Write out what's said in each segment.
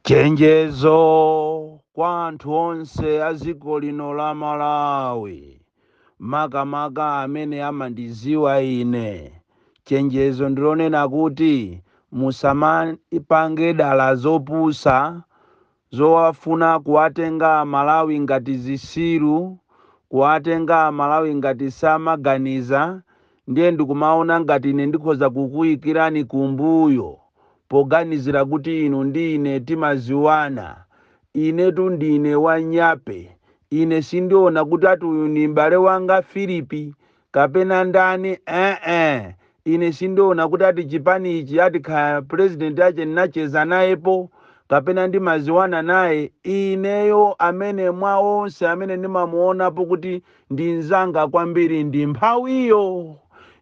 chenjezo kwa anthu onse a dziko lino la malawi makamaka amene amandiziwa ine chenjezo ndilonena kuti musamapange dala zopusa Zowafuna kuwatenga amalawi ngati zisiru, kuwatenga amalawi ngati samaganiza ndiye ndikumaona ngati ine ndikhoza kukuikirani kumbuyo poganizira kuti inu ndi ine timaziwana. Inetu ndine wanyape. Ine sindiona kuti ati uyu ndi m'bale wanga Philip kapena ndani eeh ine sindiona kuti ati chipani ichi ati kaya president ache nnacheza nayepo kapena ndimaziwana naye ineyo amene mwa onse amene ndimamuonapo kuti ndi mzanga kwambiri ndi mphawiyo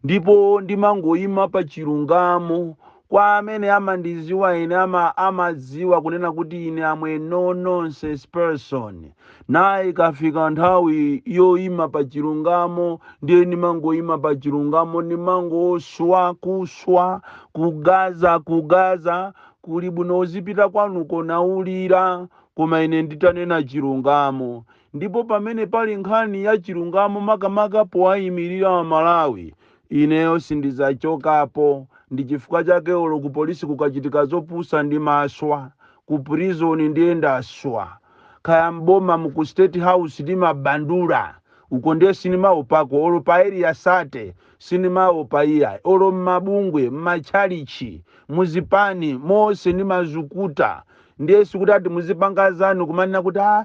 ndipo ndimangoyima pa chilungamo Kwa amene amandiziwa ine amadziwa kunena kuti ine am a no nonsense person naye ikafika nthawi yoima pa chilungamo ndiye ndimangoima pa chilungamo ndimangoswa kuswa kugaza kugaza kuli bwino uzipita kwanuko naulira koma ine nditanena chilungamo Ndipo pamene pali nkhani ya chilungamo makamaka powayimirira a Malawi, ineyo sindizachokapo, ndi chifukwa chake olo ku police kukachitika zopusa ndimaswa, ku prison ndiye ndaswa, kaya m'boma mu ku state house ndimabandula, uko ndiye sindimaopako, olo pa area 30 Sinimaopa iyayi olo mmabungwe, mmatchalitchi, muzipani mose nimazukuta ndiye sikuti ati muzipanga zanu kumanena kuti aa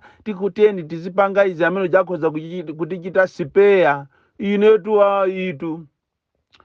tiyeni tizipanga izi amene uja akhoza kutichita sipeya inetu ayitu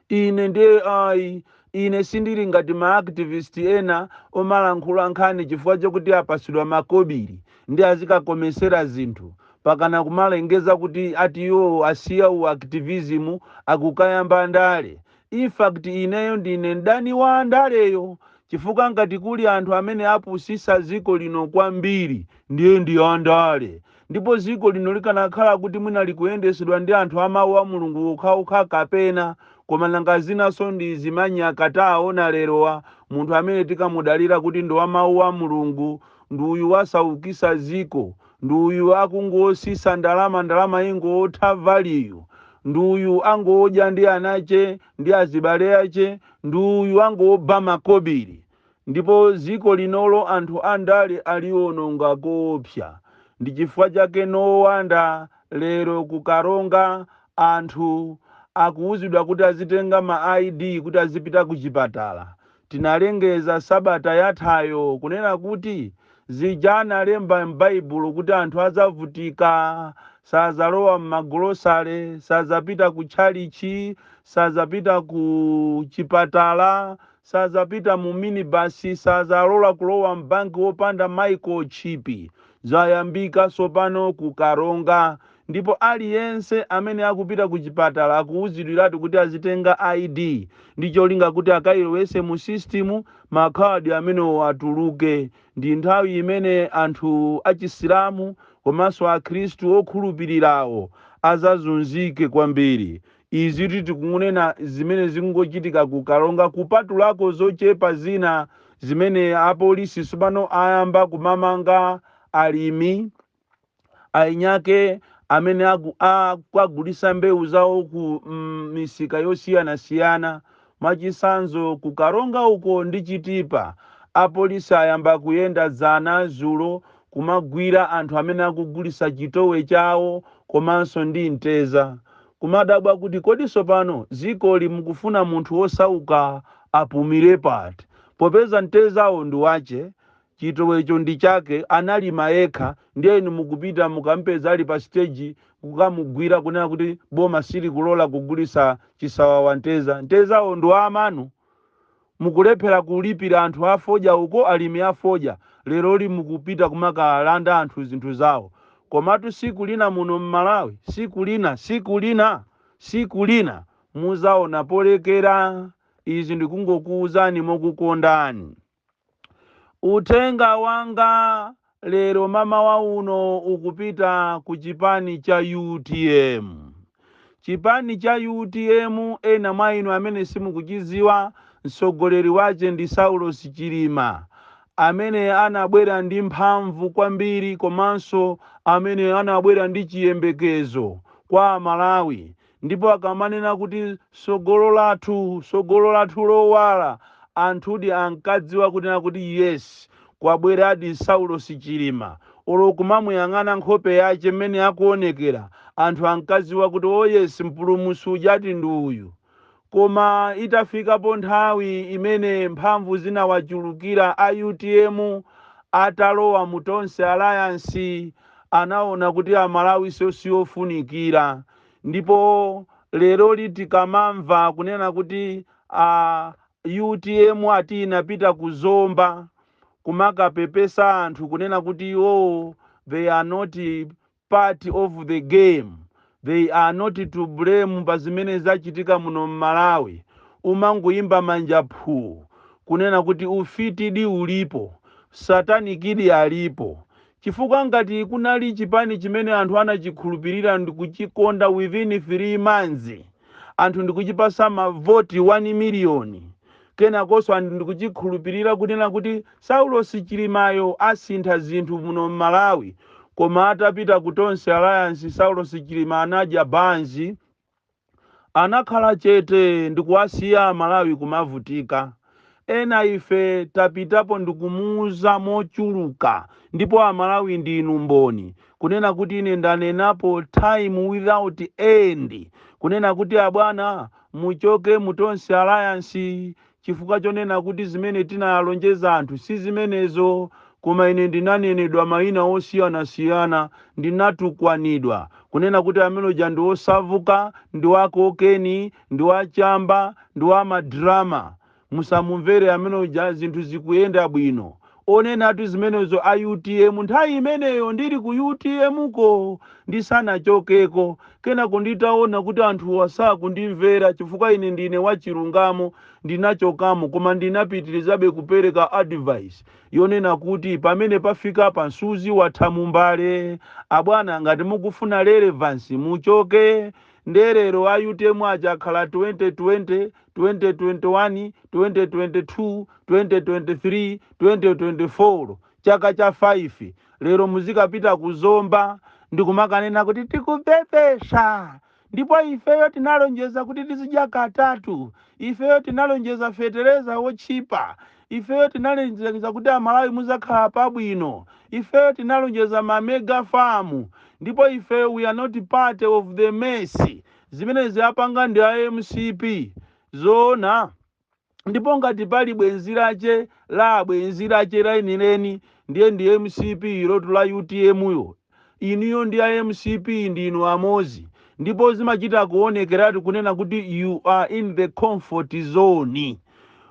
ine ndiye ayi ine sindili ngati ma activist ena omalankhula nkhani chifukwa chokuti apasidwa makobiri nde azikakomesera zinthu pakana kumalengeza kuti ati iwowo asiya u activism akukayamba ndale. Infact ineyo ndine mdani wa andaleyo chifukwa ngati kuli anthu amene apusisa dziko lino kwambiri ndiye ndi andale ndipo dziko lino likanakhala kuti mwina likuyendesedwa ndi anthu a mau a Mulungu okhaokha kapena koma nanga zinaso ndi zimanyaka taawona lerowa munthu amene tikamudalira kuti ndi wa mau a Mulungu ndi uyu wasaukisa ziko, ndi uyu akungosisa ndalama ndalama ingotha value, ndi uyu angodya ndi anache ndi azibale ache, ndi uyu angoba makobiri. Ndipo ziko linolo anthu andale aliononga koopsa. Ndi chifukwa chake no wonder lero ku Karonga anthu akuuzidwa kuti azitenga ma ID kuti azipita kuchipatala. Tinalengeza sabata yathayo kunena kuti zija analemba m'Baibulo kuti anthu adzavutika, sadzalowa m'magolosale, sadzapita kutchalitchi, sadzapita ku chipatala, sadzapita mu minibasi, sadzalola kulowa m'banki wopanda microchip, zayambika tsopano ku Karonga. Ndipo aliyense amene akupita kuchipatala akuuzidwiratu kuti azitenga ID ndi cholinga kuti akailowetse mu system makhadi amenewo atuluke. Ndi nthawi imene anthu achisilamu komanso akhristu okhulupirirawo azazunzike kwambiri. Izitu tikunena zimene zingochitika ku Karonga kupatulako zochepa zina zimene apolisi tsopano ayamba kumamanga alimi, eni ake amene aku- akukagulisa mbewu zawo ku mm, misika yosiyanasiyana mwachitsanzo ku karonga uko ndi chitipa apolisi ayamba kuyenda dzana zulo kumagwira anthu amene akugulisa chitowe chawo komanso ndi mteza kumadabwa kuti kodi tsopano dzikoli mukufuna munthu wosauka apumire pati popeza mtezawo ndi wache Chitowecho ndi chake, analima yekha ndiye inu mukupita mukampeza ali pa stage kukamugwira kunena kuti boma silikulola kugulitsa chisawawa mteza. Mtezawo ndi wa amanu? Mukulephera kulipira anthu a fodya uko, alimi a fodya, leroli mukupita kumakalanda anthu zinthu zawo. Komatu siku lina muno m'Malawi, siku lina, siku lina, siku lina muzaona polekera. Izi ndikungokuuzani mokukondani. Uthenga wanga lero mamawa uno ukupita ku chipani cha utm. Chipani cha utm ena mwa inu amene simukuchidziwa mtsogoleri wache ndi Saulos Chilima amene anabwera ndi mphamvu kwambiri komanso amene anabwera ndi chiyembekezo kwa amalawi Ndipo akamanena kuti, Tsogolo lathu, tsogolo lathu lowala, anthudi ankadziwa kunena kuti yes, kwabweradi Saulosi Chilima. Olo kumamuyang'ana nkhope yache mmene akuonekera, anthu ankaziwa kuti oh yes, mpulumutsi ujatu ndi uyu. Koma itafikapo nthawi imene mphamvu zinawachulukira a utm atalowa mu Tonse Alliance anaona kuti Amalawinso si ofunikira ndipo leroli tikamamva kunena kuti utm ati inapita ku Zomba kumakapepesa anthu kunena kuti oh they are not part of the game they are not to blame pa zimene zachitika muno mmalawi umangoyimba manja phuu kunena kuti ufitidi ulipo satanikidi alipo chifukwa ngati kunali chipani chimene anthu anachikhulupirira ndikuchikonda within 3 months anthu ndikuchipasa ma vote 1 miliyoni Kenakonso anthu ndikuchikhulupilira kunena kuti Saulosi Chilimayo asintha zinthu muno Mmalawi koma atapita ku Tonse Alliance Saulosi Chilima anadya banzi anakhala chete ndikuwasiya Amalawi kumavutika ena ife tapitapo ndikumuuza mochuluka ndipo Amalawi ndinu mboni kunena kuti ine ndanenapo time without end kunena kuti abwana Muchoke mu Tonse Alliance chifukwa chonena kuti zimene tinalonjeza anthu si zimenezo. Koma ine ndinanenedwa maina osiyanasiyana, ndinatukwanidwa, kunena kuti amene uja ndi wosavuka, ndi wa kokeni, ndi wa chamba, ndi wa ma drama. Musamumvere amene uja zinthu zikuyenda bwino. Onenatu zimenezo a utm nthawi imeneyo ndili ku utm ko ndisanachokeko. Kenako nditaona kuti anthuwa sakundimvera chifukwa ine ndine wachilungamo ndinachokamo koma ndinapitirizabe kupereka advice yonena kuti pamene pafikapa nsuzi watha mumbale. Abwana ngati mukufuna relevance muchoke. Nde lero a utm aja akhala 2020 2021 2022 2023 2024 chaka cha 5 lero muzikapita ku zomba ndikumakanena kuti tikupepesa ndipo ifeyo tinalonjeza kuti tizidya katatu ifeyo tinalonjeza fetereza wotchipa ifeyo tinalonjeza kuti amalawi muzakhala pabwino ifeyo tinalonjeza mamega famu ndipo ifeyo we are not part of the mess Zimenezi apanga ndi a mcp zoona? Ndipo ngati pali bwenzi lache la bwenzi lache lenileni ndiye ndi mcp ilotu la utm yo. Inuyo ndi a mcp ndinu amozi ndipo zimachita kuonekeratu kunena kuti you are in the comfort zone.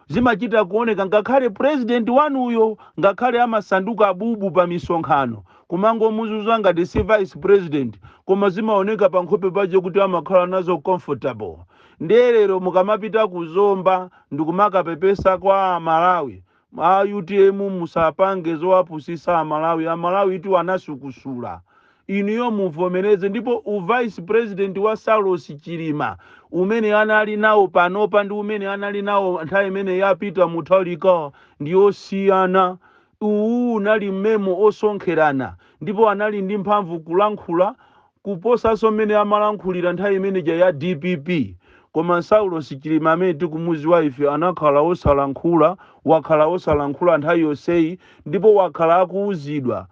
zimachita kuoneka ngakhale president wanuyo ngakhale amasanduka bubu pa misonkhano kumangomuzuzuwa ngati si vice president koma zimaoneka pa nkhope pache kuti amakhala nazo comfortable ndiye lero mukamapita ku zomba ndikumakapepesa kwa amalawi a utm musapange zowapusisa amalawi amalawi itu anasukusula inuyo muvomereze ndipo u vice president wa Saulosi Chilima umene anali nawo panopa ndi umene anali nawo nthawi imene ya Peter Mutharika ndi osiyana. Uwu unali m'memo wosonkherana ndipo anali ndi mphamvu kulankhula kuposanso mmene amalankhulira nthawi imeneja ya dpp. Koma Saulosi Chilima amene tikumudziwa ife anakhala osalankhula, wakhala osalankhula nthawi yonseyi ndipo wakhala akuuzidwa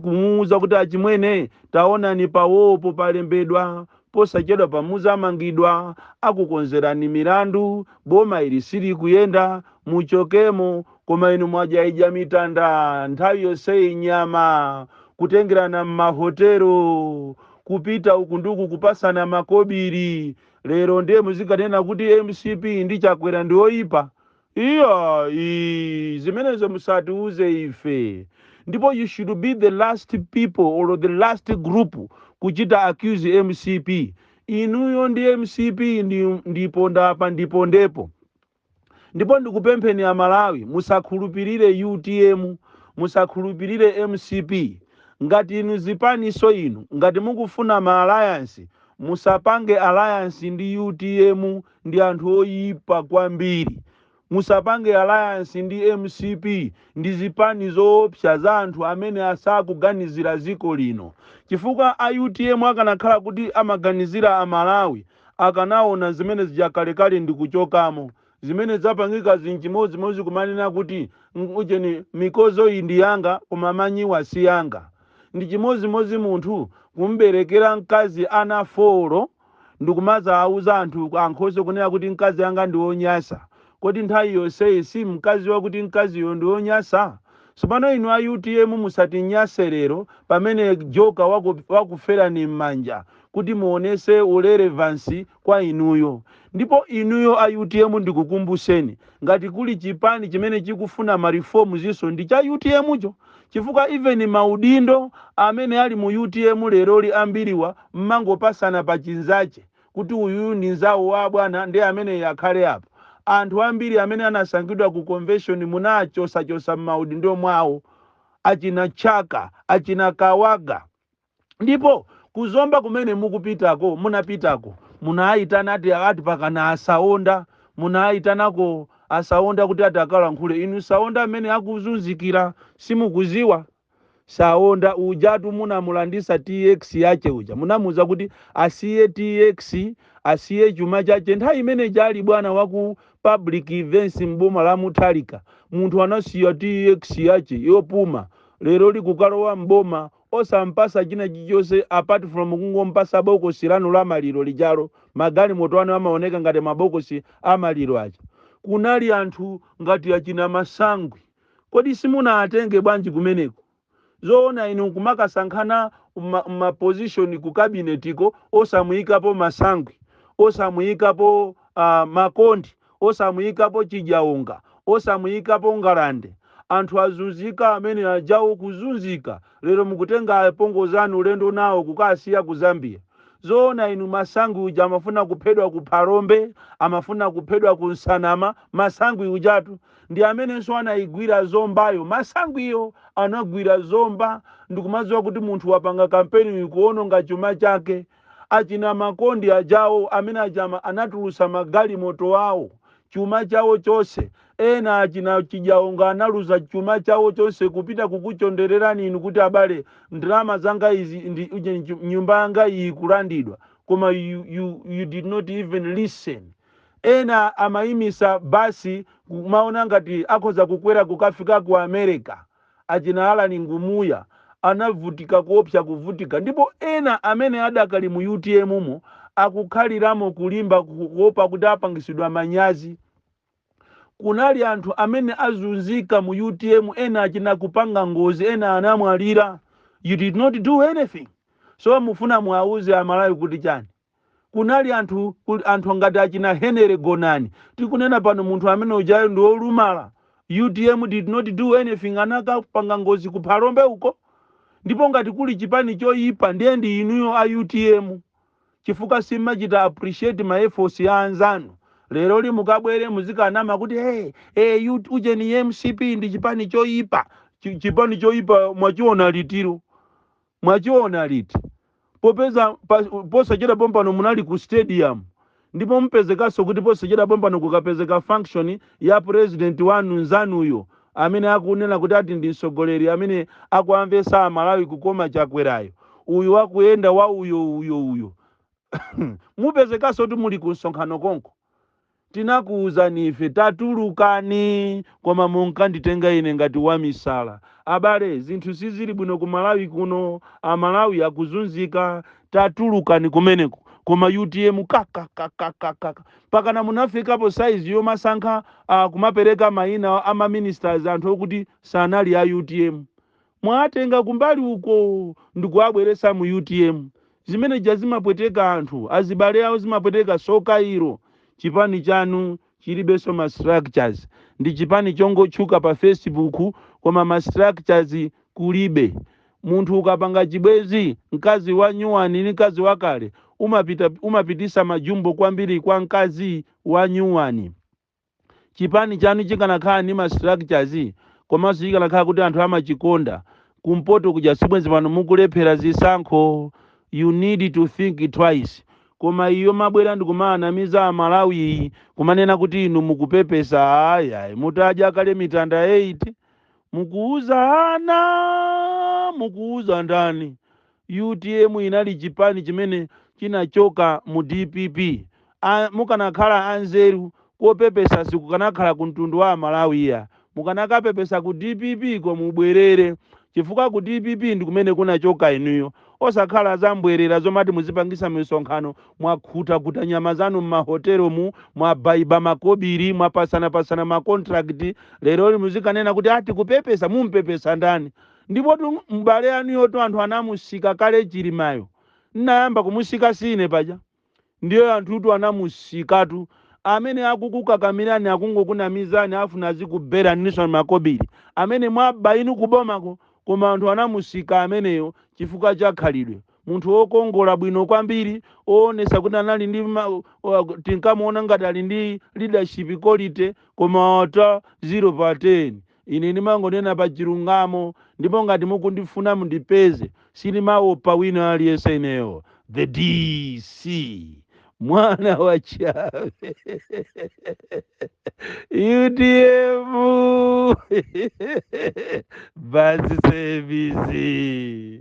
kumuwuza kuti achimwene taonani pawopo palembedwa posachedwa pa muzamangidwa akukonzerani milandu boma ili silikuyenda muchokemo koma inu mwajaidya mitanda nthawi yonseyi nyama kutengerana m'mahotelo kupita uku ndi uku kupasana makobiri lero ndiye muzikanena kuti mcp ndi chakwera ndi oyipa Iyayi, zimenezo musatiuze ife. Ndipo you should be the last people or the last group kuchita accuse mcp. Inuyo ndi mcp ndi ponda apa ndi pondepo. Ndipo ndikupempheni Amalawi, musakhulupirire utm, musakhulupirire mcp. Ngati inu zipaniso inu, ngati mukufuna ma alliance, musapange alliance ndi utm, ndi anthu oyipa kwambiri. Musapange alliance ndi mcp ndi zipani zoopsa za anthu amene asakuganizira ziko lino chifukwa a utm akanakhala kuti amaganizira a Malawi akanaona zimene zija kalekale ndikuchokamo. Zimene zapangikazi nchimodzimodzi kumanena kuti ng, ujeni mikozoyi ndi yanga koma manyiwa si anga. Ndi chimodzimodzi munthu kumuberekera mkazi ana folo. ndikumazawauza anthu ankhoswe kunena kuti mkazi wanga ndi wonyasa, kodi nthawi yonseyi simunkaziwa kuti mkaziyo ndi wonyasa? Tsopano inu a utm musatinyase lero pamene joker wakuferani mmanja kuti muonese u relevance kwa inuyo. Ndipo inuyo a utm ndikukumbuseni, ngati kuli chipani chimene chikufuna ma reforms nso ndi cha utm cho. chifukwa even maudindo amene ali mu utm leroli ambiriwa mmangopasana pa chinzache kuti uyuyu ndi nzawo wa abwana nde ameneyi akhale apo. Anthu ambiri amene anasankhidwa ku convention munawachosachosa mmaudindo mwawo achina Chaka, achina Kawaga. Ndipo ku Zomba kumene mukupitako, munapitako, munaitana ati, ati pakana a Saonda, munaitanako a Saonda kuti ati akalankhule. Inu Saonda amene akuzunzikira simukuziwa? Saonda ujatu munamulandisa TX yache uja. Munamuuza kuti asiye TX, asiye chuma chache. Nthawi imene ija ali bwana waku public events m'boma la Mutharika, munthu anasiya TX yache yopuma. Lero likukalowa m'boma osampasa china chilichonse apart from kungompasa bokosi lanu la maliro lijalo, magalimoto anu amaoneka ngati mabokosi a maliro aja. Kunali anthu ngati achina Masangwi, kodi simunaatenge bwanji kumeneko? Zoona inu kumakasankhana mma mma position ku cabinet ko osamuikapo Masangwi, osamuikapo a Makondi? osamuyikapo chidyaonga osamuyikapo ngalande anthu azunzika amene ajawo kuzunzika lero mukutenga apongozi anu ulendo nawo kukasiya ku zambia zoona inu masangwi uja amafuna kuphedwa ku phalombe amafuna kuphedwa ku nsanama masangwi ujatu ndi amenenso anayigwira zombayo masangwiyo anagwira zomba ndikumadziwa kuti munthu wapanga kampeni kuononga chuma chake achina makondi ajawo amene aja ma anatulusa magalimoto awo chuma chawo chonse ena achina chidyaonga analuza chuma chawo chonse kupita kukuchondererani inu kuti abale ndalama zanga izi ndi uje- nju- nyumba yanga iyi kulandidwa koma you, you, you did not even listen ena amayimisa basi kumaona ngati akhoza kukwera kukafika ku america Achina Allan Ngumuya anavutika koopsa kuvutika ndipo ena amene adakali mu utm mo akukhaliramo kulimba kuopa kuti apangitsidwa manyazi. Kunali anthu amene azunzika mu utm ena achina kupanga ngozi ena anamwalira you did not do anything so mufuna muwauze amalawi kuti chani? kunali anthu kuli anthu ngati achina Henry Gonani tikunena pano munthu amene ujayo ndi olumala utm did not do anything anakapanga ngozi ku Phalombe uko ndipo ngati kuli chipani choyipa ndiye ndi inuyo a utm chifukwa simachita appreciate ma efforts ya anzanu leroli mukabwere muzikanama kuti hey, hey, ut- ujeni mcp ndi chipani choyipa Chi- chipani choyipa mwachiona litiro Mwachiona liti? Popeza pa, posachedwa pompano munali ku stadium ndipo mupezekanso kuti posachedwa pompano kukapezeka function ya president wanu nzanuyo amene akunena kuti ati ndi mtsogoleri amene akuwamvetsa amalawi kukoma chakwerayo uyu wakuyenda wa uyo uyo uyo mupezekanso kuti muli ku msonkhano konko Tinakuuzani ife, Tatulukani! Koma munkanditenga ine ngati wamisala. Abale, zinthu sizili bwino ku Malawi kuno. A Malawi akuzunzika. Tatulukani kumeneko. Koma utm kakakakakakaka. Mpakana munafikapo size yomasankha, ah, kumapereka maina a ma ministers anthu okuti sanali a utm. mwatenga kumbali uko ndikuwabweretsa mu utm zimene zija zimapweteka anthu azibale awo zimapweteka tsoka ilo chipani chanu chilibenso ma structures ndi chipani chongotchuka pa facebook koma ma structures kulibe munthu ukapanga chibwezi mkazi wa nyuwani ndi mkazi wakale umapitisa majumbo kwambiri kwa mkazi wa nyuwani chipani chanu chikanakhala ndi ma structures komanso chikanakhala kuti anthu amachikonda kumpoto kuja sibwenzi pano mukulephera zisankho you need to think twice koma iyi yomabwera ndikumaanamiza amalawi iyi kumanena kuti inu mukupepesa ayi ayi mutadya kale mitanda 8 mukuuza ana mukuuza ndani Utm inali chipani chimene chinachoka mu dpp a mukanakhala anzeru kopepesa sikukanakhala ku mtundu wa amalawi iya mukanakapepesa ku dpp ko mubwerere chifukwa ku dpp ndikumene kunachoka inuyo osakhala zambwerera zomati muzipangisa misonkhano mwakhuta khuta nyama zanu mma hotel mu mwabaiba makobili mwapasana pasana ma contract lero muzikanena kuti a tikupepesa mumpepesa ndani Ndipotu m'bale anuyotu anthu anamusika kale Chilimayo. N'nayamba kumusika si ine paja? Ndiye anthutu anamusikatu. Amene akukukakamilani akungokunamizani afuna azikubelaninso makobili amene mwaba inu kubomako koma anthu anamusika ameneyo chifukwa cha khalidwe. Munthu wokongola bwino kwambiri, woonetsa kuti anali ndi ma, wa, tinkamuona ngati ali ndi leadership quality koma ata 0 pa 10. Ine ndimangonena pa chilungamo ndipo ngati mukundifuna mundipeze sindimaopa wina aliyense ineyo the DC mwana wa chabe UTM basi sevisi.